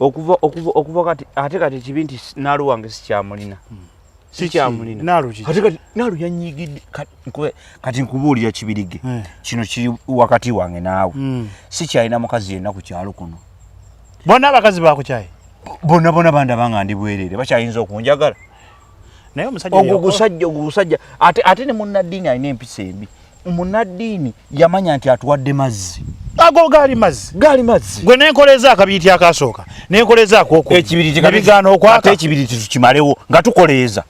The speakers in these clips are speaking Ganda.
okuva okuva okuva kati ate kati ekibi nti naalu wange sikyamulina hmm. sikyamulina naalu ki ate kati naalu yanyigidde kati nkubuulira kibirige eh. kino kiri wakati wange naawe hmm. sikyalina mukazi yenna ku kyalo kuno bonna abakazi bakukyaye bonna bona bandaba nga ndi bwereere bakyayinza okunjagala naye omusajja ogwo gusajja ogwo gusajja ate ate ne munnaddiini alina empisa embi munnaddiini yamanya nti atuwadde mazzi ago gaali mazzi gaali mazzi gwe nenkoleza akabiriti akasooka nenkoleza akokuekibiritiebigaana okwaka ekibiriti tukimalewo nga tukoleeza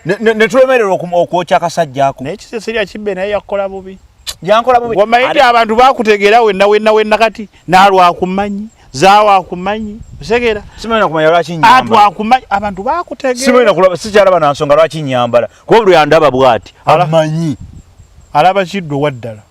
netulemererwa okwokya akasajja ako naye kisesirya kibbe naye yakukola bubi yankola bubi wamayidi abantu bakutegeera wenna wenna wenna kati nalwakumanyi zawa akumanyi utegera simanya kumanya lwaki nyamba atu akumanyi abantu bakutegera simanya kulaba sikyala bana nsonga lwaki nyambala kuba buli andaba bwati amanyi alaba kiddo waddala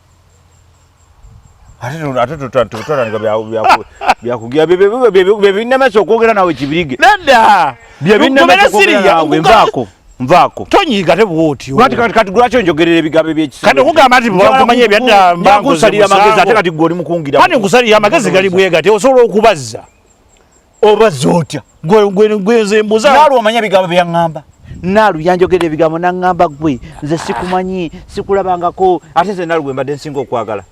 byebinamesa okwogera nawe kibirige nedda byebinamesa okwogera nawe nvaako nvaako tonyiiga te bwotyo kati kati kati lwaki onjogerera ebigambo ebyekisa kati okugamba nti bwakumanya ebyadda mbangusalira amagezi ate kati gwe oli mukungira kati nkusalira amagezi gali bwega te osobola okubazza obazza otya gwenze mbuza naalu omanya ebigambo byeyaŋŋamba naalu yanjogerera ebigambo naŋŋamba gwe nze sikumanyi sikulabangako ate nze naalu gwe mbadde nsinga okwagala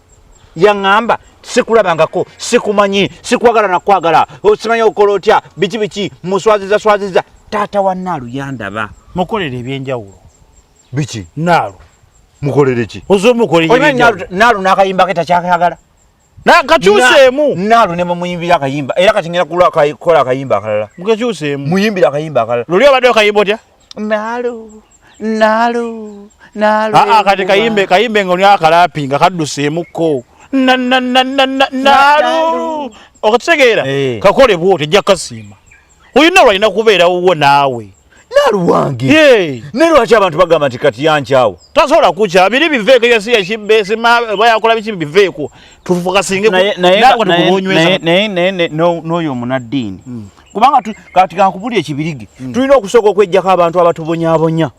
yaŋŋamba sikulabangako sikumanyi sikwagala nakwagala osimanyi okukola otya biki biki muswaziza swaziza taata wa naalu yandaba mukolera ebyenjawulo biki naalu mukolere ki ozomukolenaalu nakayimba ke takyakayagala kakyuseemu naalu ne mumuyimbira akayimba era kati ngera kukola akayimba akalala mukakyuseemu muyimbira akayimba akalala luli obadde okayimba otya Nalu, nalu, nalu. Aa, kati kayimbe, kayimbe ngoni akalapi nga kadduseemukko. Na, na, na, na, na, nalu. Okitegeera? Eh. Kakole bwo tejja kasiima. Oyina lwalina kubeera wuwo naawe. Nalu wange. Yee. Ne lwaki abantu bagamba nti kati yankyawo. Tasobola kukya. Biri biveeko yasi yakibbe sima bayakola biki biveeko. Tufuka singe. Naye naye naye naye n'oyo munaddiini. Hmm. kubanga kati kankubuli ekibirige mm. tulina okusooka okwejjako abantu abatubonyabonya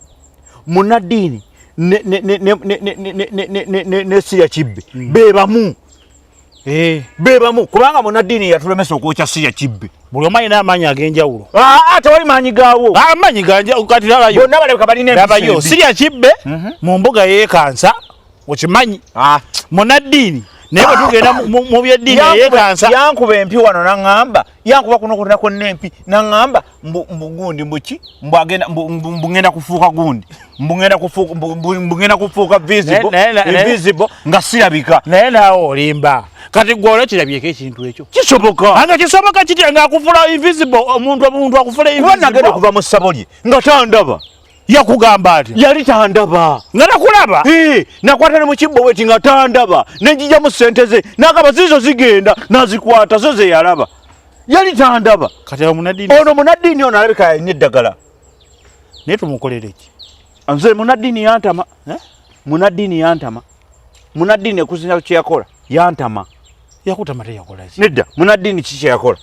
munaddiini nesiya kibbe mm. bebamu eh. bebamu kubanga munaddiini yatulemesa okwokya siya kibbe buli omu alina amaanyi ag'enjawulo ah, ah, tewali maanyi gawo ah, amaanyi kati labayobonna balabika balina labayo siya kibbe mhm. mu mbuga yekansa okimanyi munaddiini naye bwetugenda mu byeddiini eyekansa yankuba empi wano naŋŋamba yankuba kuno konna konna empi naŋŋamba mbugundi mbuki mbugenda kufuuka gundi mbugenda kufuuka visible nga sirabika naye naawe olimba kati gwe olwekirabyeko ekintu ekyo kisoboka anga kisoboka kitya ngaakufula invisible omuntu omuntu akufula kuba nagenda okuva mu ssabo lye nga tandaba yakugamba atya yali tandaba nga nakulaba nakwata ne mukibbo weti nga tandaba nenjijamu sente ze nakaba zizo zigenda nazikwata zo zeyalaba yali tandaba ono munaddiini ono alabika yalina eddagala naye tumukolereki nze munaddiini yantama eh? munaddiini yantama munaddiini ekuzinya kyeyakola yantama yakutama teyakola nedda munaddiini kikyeyakola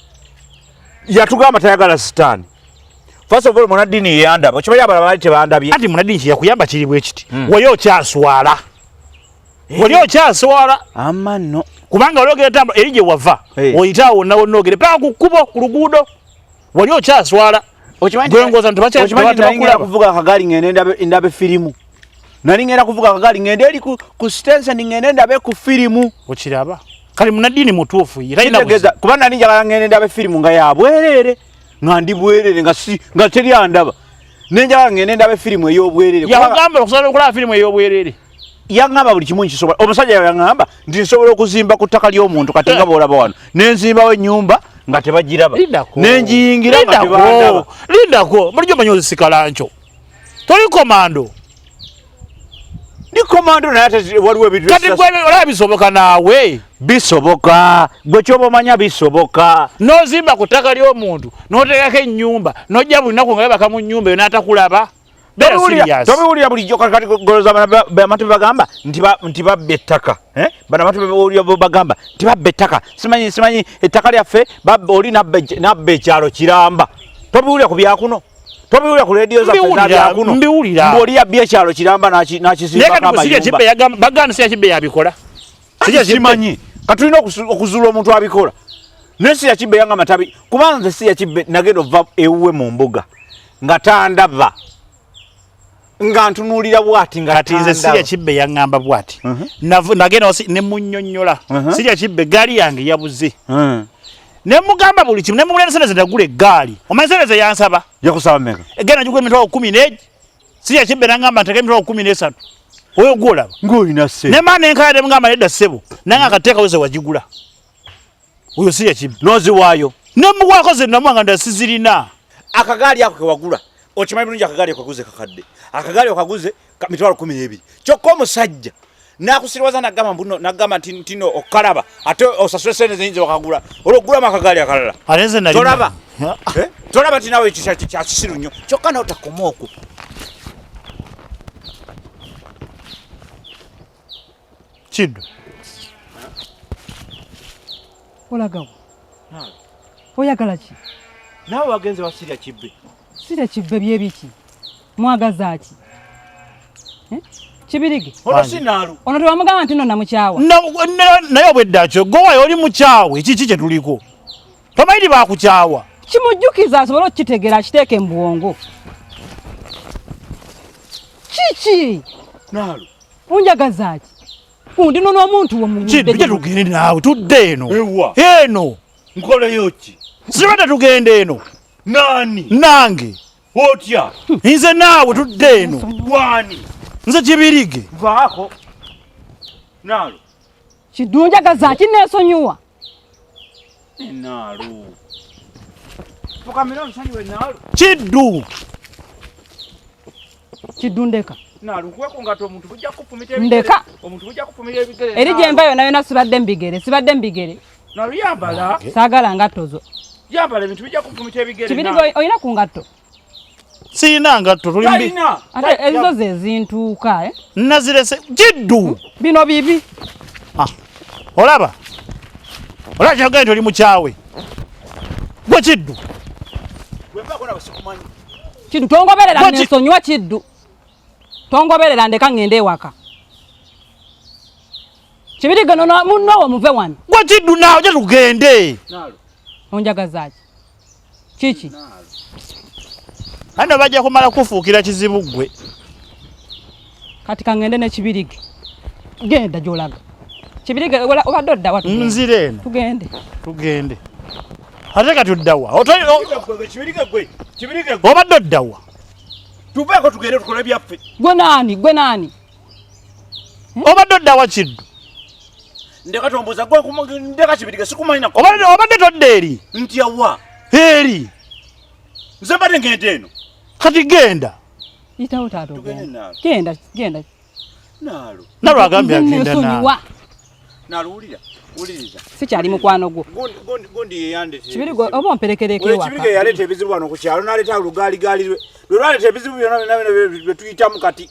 yatugamba tayagala sitaani First of all munadini yeyanda bo kibaye abala bali tebandabye ati munadini kya kuyamba kiri bwe kiti mm. wayo kya swala eh. wayo kya swala amano kubanga wali ogera tamba erije wava hey. Eh. oyita wonna wonna ogere pa ku kubo ku luguudo wali okya swala gwengoza nti bakya bakula kuvuga kagali ngene ndabe ndabe filimu nali ngera kuvuga kagali ngende eri ku, ku stense ni ngende ndabe ku filimu okiraba kali munadini mutuufu yira ina kuba nali njagala ngende ndabe filimu nga yabwerere nga ndi bwerere nga si nga teri andaba nenjala ngende ndabe firimu ey'obwerere yagamba okusobola okulaba firimu ey'obwerere yangamba buli kimu nkisobola omusajja yangamba nti nsobola okuzimba ku ttaka ly'omuntu kati nga eh. boolaba wano nenzimbawo ennyumba nga tebagiraba nenjiyingira nga tebandaba lindako bulijjo manyi ozisikalanco toli komando ndi komando naye ate waliwo ebintu kati gwe olaba bisoboka naawe bisoboka gwe kyoba omanya bisoboka nozimba ku ttaka ly'omuntu noteekako ennyumba nojja buli naku nga webaka mu nnyumba eyo n'atakulaba tobiwulira bulijjo kati goloza bamatu bebagamba nti babba ettaka eh? bano abantu bewulira bebagamba nti babba ettaka simanyi simanyi ettaka lyaffe oli nabba ekyalo kiramba tobiwulira ku byakuno tobiwulira ku leediyo zaezakuno mbiwulira mbu oli yabbi ekyalo kiramba nakisimbakabaganda si yakibbe yabikola simanyi katulina okuzuula omuntu abikola naye si yakibbe yanga matabi kubanga nze si yakibbe nagenda ova ewuwe mu mbuga nga tandaba nga ntunuulira bwati nga kati nze sirya kibbe yaŋŋamba bwati uh-huh. nagenda wasi ne munnyonnyola uh-huh. sirya kibbe gaali yange yabuze uh-huh. ne mugamba buli kimu ne mugula ebiseereza ndagula eggaali omanyi seereza yansaba yakusaba meka egenda njigula emitwalo kumi negi sirya kibbe naŋŋamba nteka emitwalo kumi n'esatu oyo gwolaba ng'olina ssebo ne maa nenkaya ne mugamba nedda ssebo nange akateekawo ze wagigula oyo si yakibi noziwaayo nemuwaako zenamu nga ndasizirina akagaali ako kewagula okimanyi bulungi akagaali okaguze kakadde akagaali okaguze mitwalo kumi nebiri kyokka omusajja nakusiriwaza nagamba mbuno nagamba nti ntino okukalaba ate osasule sente zeyinza okagula olwokugulamu akagaali akalala tolaba eh? tolaba nti nawe kyakisiru nnyo kyokka nawe takoma okwo Kiddu. Olagawa. Naawe. Oyagala ki? Naawe wagenze wa Sirya Kibbe. Sirya Kibbe byebiki? Mwagaza ki? Eh? Kibirige. Ono sinaalu. Ono tewamugamba nti nno namukyawa. Naye obwedda kyo, gowayo oli mukyawe, kiki kye tuliko? tomanyi bakukyawa kimujjukiza asobole okukitegeera akiteeke mu bwongo kiki naalo unjagazaaki kundino n'omuntu womugudde tugende naawe tudde eno eno nkoleyo ki sibadde tugenda eno nani nange otya nze naawe tudde eno gwani nze kibirige vaako naalo kidunjagazaaki neesonyiwa kiddu kiddu ndeka ndeka eri gyemba yona yona sibadde mubigere sibadde mubigere sagala ngatto zo kibiri olina ku ngatto siyina ngatto tuli mbi ate ezo zezintuuka eh? nazirese kiddu hmm? bino bibi ah, olaba olaba kyogae nti oli mukyawe gwe kiddu kiddu tongoberera nensonyiwa kiddu tongoberera ndeka ngende ewaka kibirigano munowo muve wano gwe kiddu nawe oja tugende onjagazaki kiki ano bajja kumala kufuukira kizibu ggwe kati kangende nekibirige genda gyolaga kibirige obadde oddawa nzira eno tugende tugende ate kati oddawa obadde oddawa tuveeko tugende tukole byaffe gwe naani gwe naani hmm? obadde oddawa kiddu ndeka tombuza gwa kuma ndeka kibirige sikumanyi nako obadde obadde todde eri nti yawa eri nze mbadde ngende eno kati genda itawo tato genda genda genda nalo nalo agambye agenda nalo nalo ulira uliriza sikyali mukwano gwo gondi gondi yeyande kibiri gwo obo mperekereke waka kibiri ge yaleta ebizibu wano ku kyalo naleta olugali gali lwe lwaleta ebizibu byona bina bina bye tuyitamu kati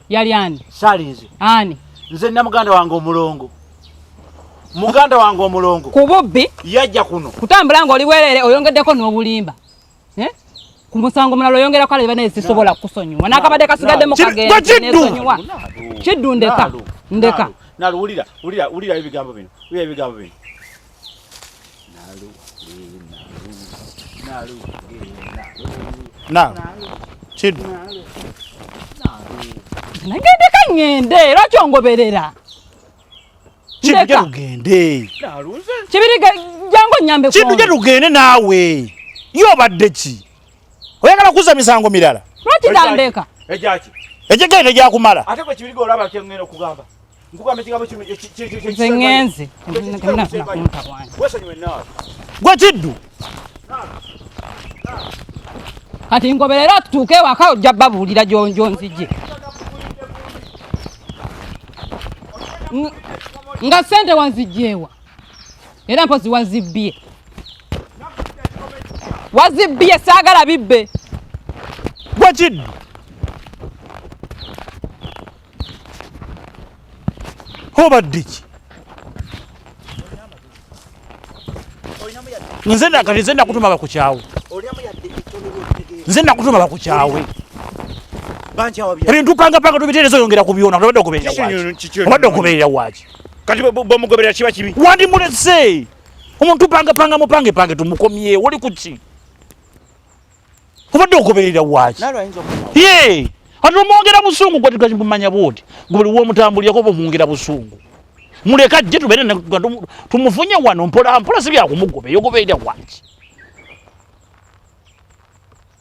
yali ani saali nze ani nze nna muganda wange omulongo muganda wange omulongo ku bubbi yajja kuno kutambula nga oli bwerere oyongeddeko n'obulimba eh? ku musango mulala oyongera kale banaye sisobola kukusonyiwa n'akabadde kasigadde mu kagendesonyiwa kiddu ndeka ndeka nalo wulira wulira wulira ebigambo bino wulira ebigambo bino kiddu nagende kangende era kyongoberera kiddu lugende kibiri jangu nyambe kiddu lugende naawe yo obadde ki Oyagala kukuza misango mirala. Lwaki tandeka? Ejaki. Ejeke ne jakumala. Ate ko kibirigo olaba kye ngeno kugamba. Nkugamba kigambo kino kye kye kye kye. Zengenze. Wesa nywe nawe. Gwe kiddu. Kati ngoberera tutuuke ewaka ojja babuulira gyonjo nzije. Nga sente wanzijjeewa. era mpozi wazibbye wazibbye saagala bibbe gwekiddu obadde ki nze nakati nze nakutuma bakukyawe nze nakutuma bakukyawe ebintu pangapanga tubiteereza oyongera ku byona obadde okubeerera waki kati bwomugobera kiba kibi wandi mulese omuntu panga panga mupange pange tumukomye wali kuki obadde ogoberera waki ye ati omwongera busungu gwatigaimumanya bwoti gubuli womutambulirako bumwongera busungu muleka ajje tubere tumufunye wano mpola mpola sibyakumugobera ogoberera waki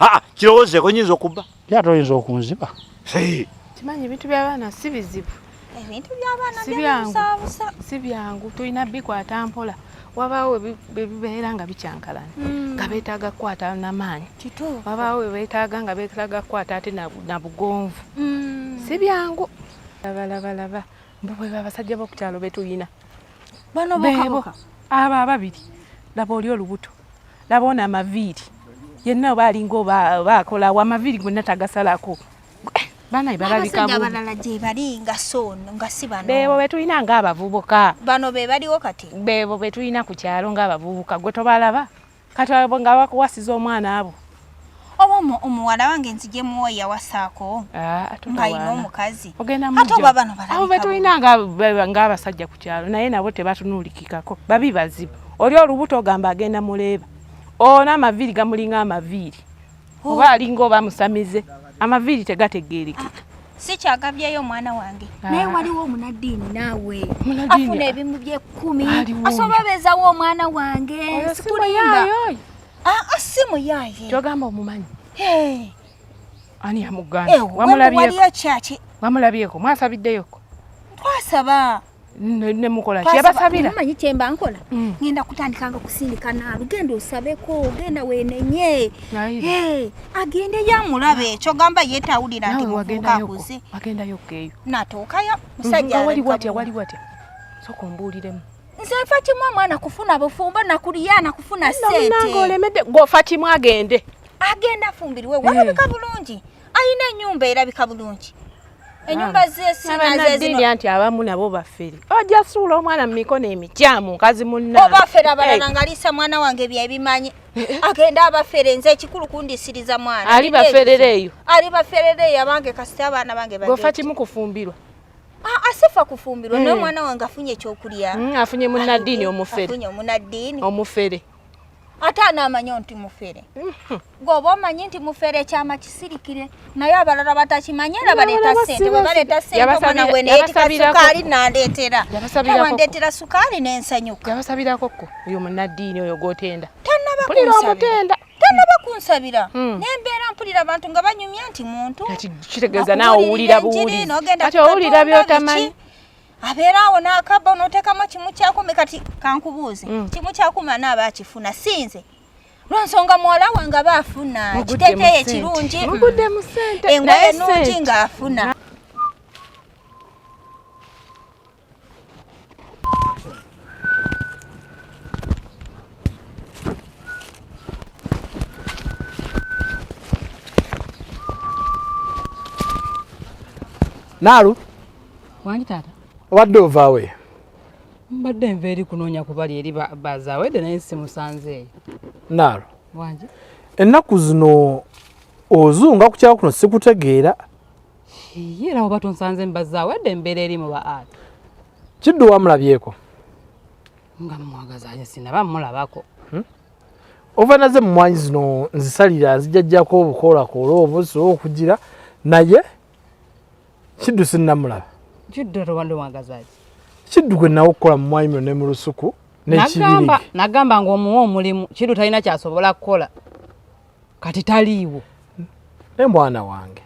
aa kirowozeeko nyinza okubba ye ate oyinza okunziba kimanyi ebintu byabaana si bizibu ebintu byabaana byabusabusa si byangu tulina bikwata mpola wabaawo webibeera nga bikyankalana hmm. nga beetaaga kukwata namaanyi wabaawo webeetaaga nga beetaaga kukwata ate na bugonvu hmm. si byangu labalabalaba mbu bwe babasajja bokukyalo betuyina bano bebo abo ababiri laba oli olubuto laba ono amaviiri yenna oba alinga oba akola wa amaviiri gwenna tagasalako eh, banaye balabikabalala gyebali nga sono nga si bano bebo betulina nga abavubuka bano be baliwo kati bebo betulina ku kyalo nga abavubuka gwe tobalaba kati abo nga bakuwasiza omwana abo oba omuwala wange nzije muwa yawasaako ah, ng'alina omukazi ate oba bano balabo betulina ng'abasajja ku kyalo naye nabo tebatunuulikikako babi bazibu oli olubuto ogamba agenda muleeba ona amaviiri gamulinga amaviiri oh. oba alinga oba musamize amaviiri tegategeerekeka sikyagabyeyo omwana wange ah. naye waliwo omunaddiini naawe afuna ebimu byekumi asobola beezawo omwana wange sikulimba Ah, ah si muyaye. Kyogamba omumanyi. Hey. Ani amuganda? Eh, Wamulabyeko. Wali Wamulabyeko. Mwasabiddeyoko. Twasaba. ne mukola ki yabasabira manyi kyemba nkola mm. ngenda kutandika nga kusindika naalu genda osabeko genda wenenye eh, agende yamulabe ekyo gamba yetawulira nti mukakuze agendayo keyo natuukayo musajja wali watya wali watya soka ombuuliremu nze nfa kimu omwana kufuna bufumbo nakuliya nakufuna sente olemedde gwofa kimu agende agenda afumbiriwe eh. walabika bulungi alina enyumba erabika bulungi enyumba ah. zesinazezino anti abamu nabo bafere ojja suula omwana mu mikono emikyamu nkazi munna obafere abalala eh. nga liisa mwana wange byebimanyi eh. agenda abafere nze ekikulu kundisiriza mwana ali baferere eyo ali baferere eyo abange kasita abaana bange gofa kimu kufumbirwa asifa kufumbirwa naye omwana wange afunye ekyokulya mm, afunye munaddiini omufere omunaddiini omufere ate anaamanyo nti mufere mm-hmm. gweoba omanyi nti mufere ekyama kisirikire naye abalala batakimanyi era baleeta sente bwe baleeta sente omwana gwe neyetika sukaali nandeetera awandeetera sukaali nensanyuka yabasabirako ko oyo munaddiini oyo gwotenda tannaba kunsabira tanaba kunsabira hmm. nembeera mpulira abantu nga banyumya nti muntu kitegeeza naawe owulira buwulikati owulira byotamanyi abeera awo n'akabba onoteekamu kimu kyakumi kati kankubuuze hmm. kimu kyakumi anaaba akifuna sinze lwansonga muwala wange aba afuna kiteteyo ekirungi engoye nungi ng'afuna Naalu wangi taata obadde ovaawe mbadde nva eri kunoonya kubali eri bazaawedde naye simusanzeeyo Naalu wangi ennaku zino ozunga ku kyalo kuno sikutegeera era oba tonsanze mbazaawo edda embeera eri mu ba art kiddu wamulabyeko nga mumwagazaye sinaba mulabako hmm? ova naze mumwanyi zino nzisalira nzijajjako obukoolakoola obusi okugira naye kiddu sinamulaba kiddu rwanda wagazaye kiddu gwe nawe okukola mumwanyi mino ne mu lusuku nekibirige nagamba ngaomuwa omulimu kiddu talina kyasobola kukola kati taliiwo naye mwana wange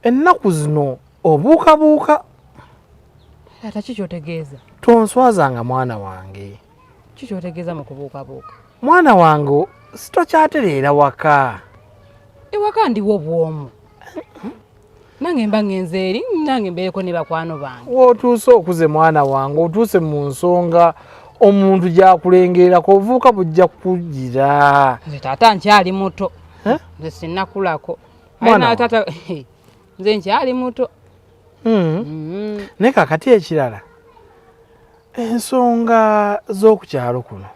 ennaku zino obuukabuuka taata kikyotegeeza tonswazanga mwana wange kikyotegeeza mu kubuukabuuka mwana wange sitokyatereera waka ewaka ndiwo bwomu nange mba ngenze eri nange mbeereko ne bakwano bange wotuuse okuze mwana wange otuuse mu nsonga omuntu gyakulengerako ovuuka bujja kugira nze taata nkyali muto nze sinakulako taata nze nkyali muto hmm. mm-hmm. naye kakati ekirala ensonga z'okukyalo kuno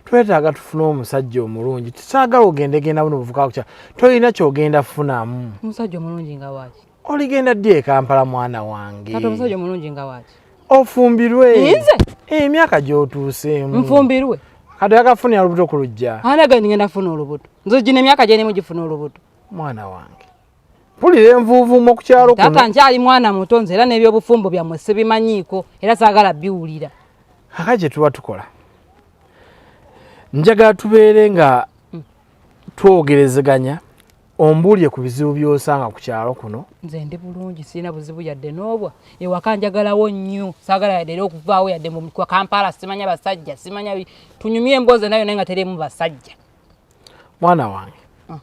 twetaaga tufune omusajja omulungi tusaagala ogende genda buno buvuka kukya tolina kyogenda funamu omusajja omulungi nga waki oligenda ddi ekampala mwana wange kati omusajja omulungi nga waki ofumbirwe nze eh, emyaka gyotuuseemu nfumbirwe kati yakafunira olubuto ku lujja anagani ngenda funa olubuto nze gino emyaka gyerimu gifuna olubuto mwana wange mpulira envuuvuumo ku kyalo kuno taata nkyali mwana muto nze era n'ebyobufumbo byammwe sibimanyiiko era saagala biwulira aka kye tuba tukola njagala tubeere nga hmm. twogerezeganya ombuulire ku bizibu by'osanga ku kyalo kuno nze ndi bulungi sirina buzibu yadde n'obwa ewaka njagalawo nnyo saagala yadde era okuvaawo yadde mu kampala simanya basajja simanya tunyumye emboozi nayo naye nga terimu basajja mwana wange mm.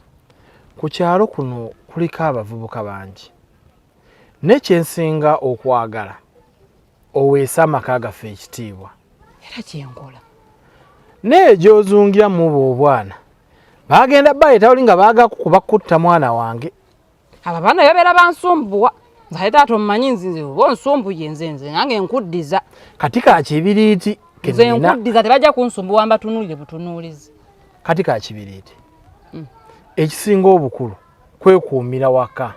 ku kyalo kuno kuliko abavubuka bangi naye kyensinga okwagala oweese amaka gaffe ekitiibwa era kyenkola naye gyozungira mubo obwana bagenda baleeta oli nga bagakukuba kutta mwana wange aba bana yabera bansumbuwa nzaye taata omumanyi nzinze oba onsumbuye nze nze nange nkuddiza kati ka kibiriiti nze nkuddiza tebajja kunsumbuwa mbatunuulire butunuulizi kati ka kibiriiti hmm. ekisinga obukulu kwekuumira waka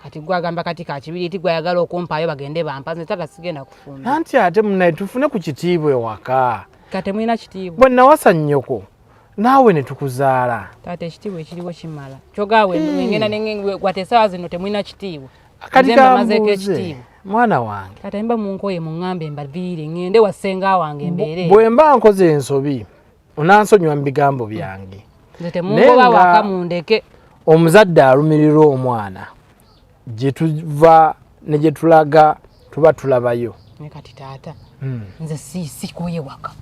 kati gwe agamba kati ka kibiriiti gwe ayagala okumpaayo bagende bampa nze taata sigenda kufumba nanti ate munaye tufune ku kitiibwa ewaka katemulina kitiibwa bwe nawasa nnyoko naawe ne tukuzaala taata ekitiibwa ekiriwo kimala kyogaawe hmm. ngenda nengwate esaawa zino temulina kitiibwa kati kambuuze ekitiibwa mwana wange kati mba munkoye muŋŋambe mbaviire ŋŋende wa ssenga wange mbeere bwe mba nkoze ensobi onansonyiwa mu bigambo byange nze temungoba waka mundeke omuzadde alumirirwa omwana gye tuva ne gye tulaga tuba tulabayo naye kati taata hmm. nze sikoye waka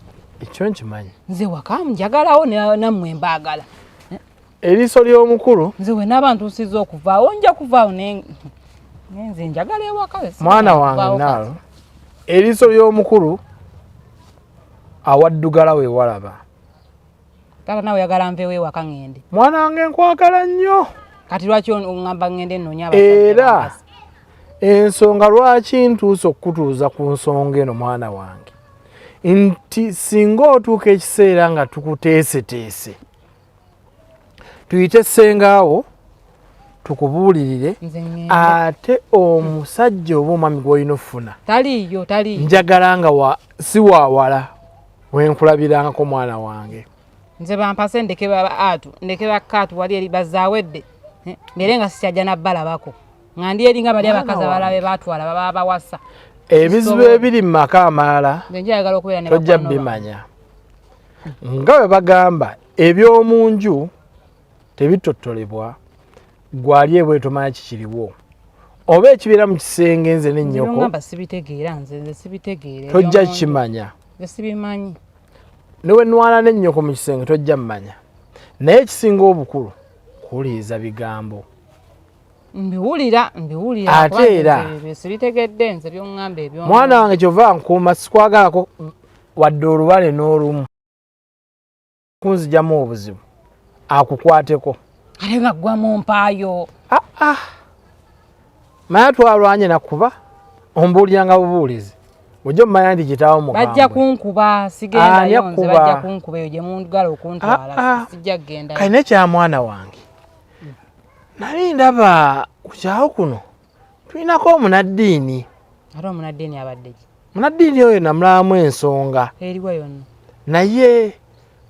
ekyo nkimanyi nze waka njagalawo nammwe mbaagala eriiso ly'omukulu nze we n'abantu nsiza okuvaawo nja kuvaawo nenze njagala ewaka mwana wange naalo eriiso ly'omukulu awaddugala we walaba Tata nawe yagala nvewo ewaka ngende. Mwana wange nkwagala nnyo. Kati lwaki ongamba ngende nnoonya abasajja? Era ensonga lwaki ntuuse okukutuuza ku nsonga eno mwana wange nti singa otuuka ekiseera nga tukuteeseteese tuyite sengaawo tukubuulirire ate omusajja oba omwami gwolina okufuna taliiyo taliiyo njagala nga wa si wawala wenkulabiranko mwana wange nze bampase ndeke baatu ndeke bakaatu wali eri bazawedde eh, mbere nga sikyajja nabbalabako nga ndi eringa bali abakazi abalabe batwala baba bawasa ebizibu ebiri mu maka amalala tojja bimanya nga bwe bagamba eby'omu nju tebitottolebwa gwali ebwe tomanya kikiriwo oba ekibeera mu kisenge nze ne nnyoko tojja kimanya newe nwala ne nnyoko mu kisenge tojja mumanya naye ekisinga obukulu kuwuliriza bigambo mbiwulira mbiwulira ate era sibitegedde nze byongamba ebyo mwana wange kyova nkuuma sikwagalako wadde olubale n'olumu kunzijamu obuzibu akukwateko ale nga gwa mu mpaayo ah, ah. maya twalwanye nakuba ombuuliranga bubuulizi ojo mumanya nti kitaawo mubajja kunkuba sigendayo nze bajja kunkuba eyo gye mundugala okuntwala ah, ah. sijja kugendayo kali nekyamwana wange nali ndaba kukyawo kuno tulinako omunaddiini ate omunaddiini abadde ki munaddiini oyo namulamu ensonga eriwa yonna naye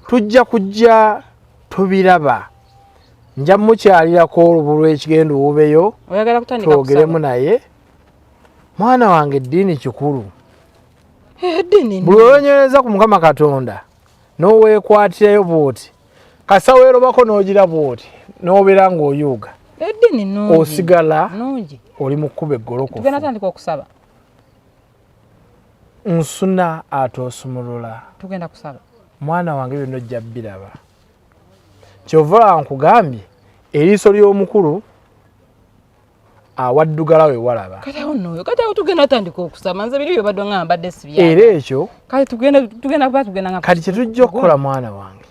tujja kujja tubiraba nja mukyalirako olubu lw'ekigenda owubeyo twogeremu naye mwana wange eddiini kikulu eh, buli olonyereza ku mukama katonda n'oweekwatirayo bwoti kasa werobako nogira bwoti nobera nga oyuga edini nungi osigala nungi oli mukuba eggolokofu tugenda tandika okusaba nsuna ate osumulula tugenda kusaba mwana wange byonna ojja biraba kyova nkugambye eriiso ly'omukulu awaddugala we walaba kati awo nno oyo kati awo tugenda atandika okusama nze biri byo badde nga mbadde sibya era ekyo kati tugenda tugenda kuba tugenda nga kati kyetujja okukola mwana wange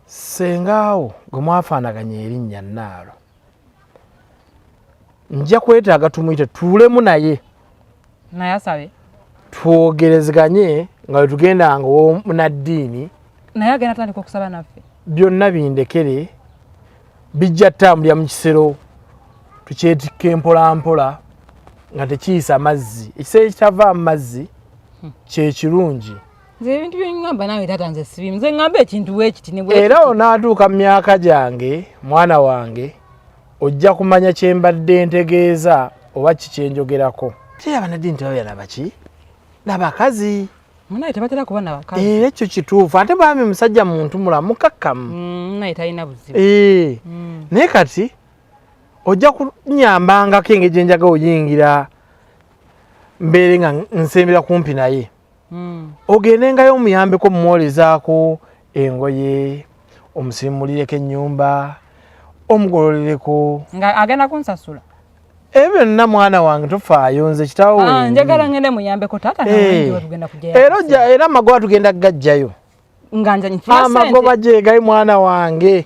sengaawo gwe mwafaanaganya erinnya nnaalo nja kwetaaga tumuyite tuulemu naye naye asabe twogerezeganye nga wetugenda nga omunaddiini naye agenda tandika okusaba naffe byonna bindekere bijja tambulira mu kisero tukyetikka empolampola nga tekiyisa mazzi ekisero ekitava amazzi hmm. kyekirungi nze ebintu byeŋamba nawe tata nze sibimu nze ŋamba ekintu wekiti era onaatuuka mu myaka gyange mwana wange ojja kumanya kye mbadde ntegeeza oba kikyenjogerako tera banadini tebabera nabaki nabakazi munaye tebatera kuba nabakazi era eh, ekyo kituufu ate bami musajja muntu mulamu kakkamu mm, naye talina buzibu eh, mm. naye kati ojja kunyambangako engeri gyenjaga oyingira mbeere nga nsembera kumpi naye hmm. ogendengayo omuyambeko mumwolezaako engoye omusimulireko ennyumba omugololereko nga agenda kunsasula ebyo byonna mwana wange tofaayo nze kitawo ah, njagala ngende muyambeko taata eh. era era amagoba tugenda kugajjayo amagoba gyegali mwana wange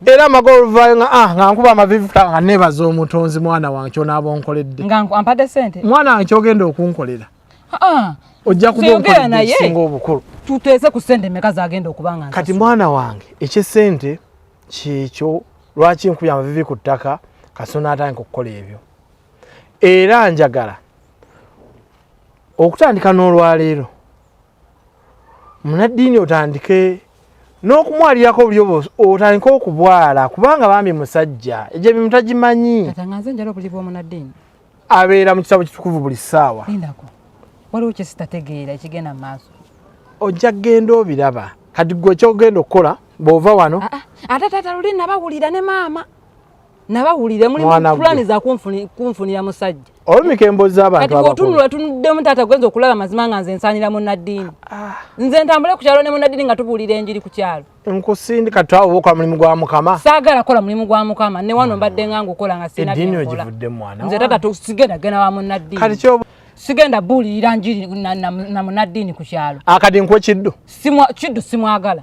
era amagolva nga ah nga nkuba amavivu nga nebaza omutonzi mwana wange kyona abonkoledde nga ampade sente mwana wange kyogenda okunkolera ah ojja kuba onkoledde ekisinga obukulu tuteese ku sente meka zagenda okuba nga kati mwana wange ekyesente kyekyo lwaki nkubya amavivi ku ttaka kasona atandika okukola ebyo era njagala okutandika n'olwaleero munaddiini otandike n'okumwalirako buli obo otandike okubwala kubanga bambi musajja egyo ebimu tagimanyi abeera mu kitabo kitukuvu buli ssaawa waliwo kyesitategeera ekigenda mu maaso ojja kugenda obiraba kati gwe ekyogenda okukola bw'ova wano ah, ah. ate taata luli nabawulira ne maama nabawulire muli pulani za kunfunira musajja olumika embozi zabantu kati otunula tunuddemu taata gwenza okulaba amazima nga nze nsaanira munaddiini ah. nze ntambule ku kyalo ne munaddiini nga tubuulira enjiri ku kyalo nkusindika twawo okola mulimu gwa mukama saagala kola mulimu gwa mukama ne wano mbadde nga ngukola nga sinadinze taata tusigenda genda wa munaddiini sigenda buulirira njiri na munaddiini ku kyalo akadi nkwe kiddu kiddu simwagala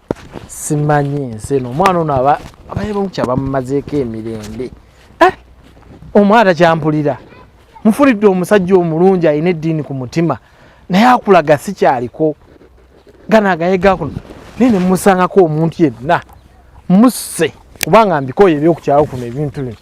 simanyi ensi eno omwana ono aba abayebamuki abamumazeeko emirembe eh, omwana takyampulira mufulidde omusajja omulungi alina eddiini ku mutima naye akulaga sikyaliko ganagayegakuno naye nemusangako omuntu yenna musse kubanga mbikoyo ebyokukyalo kuno ebintu bino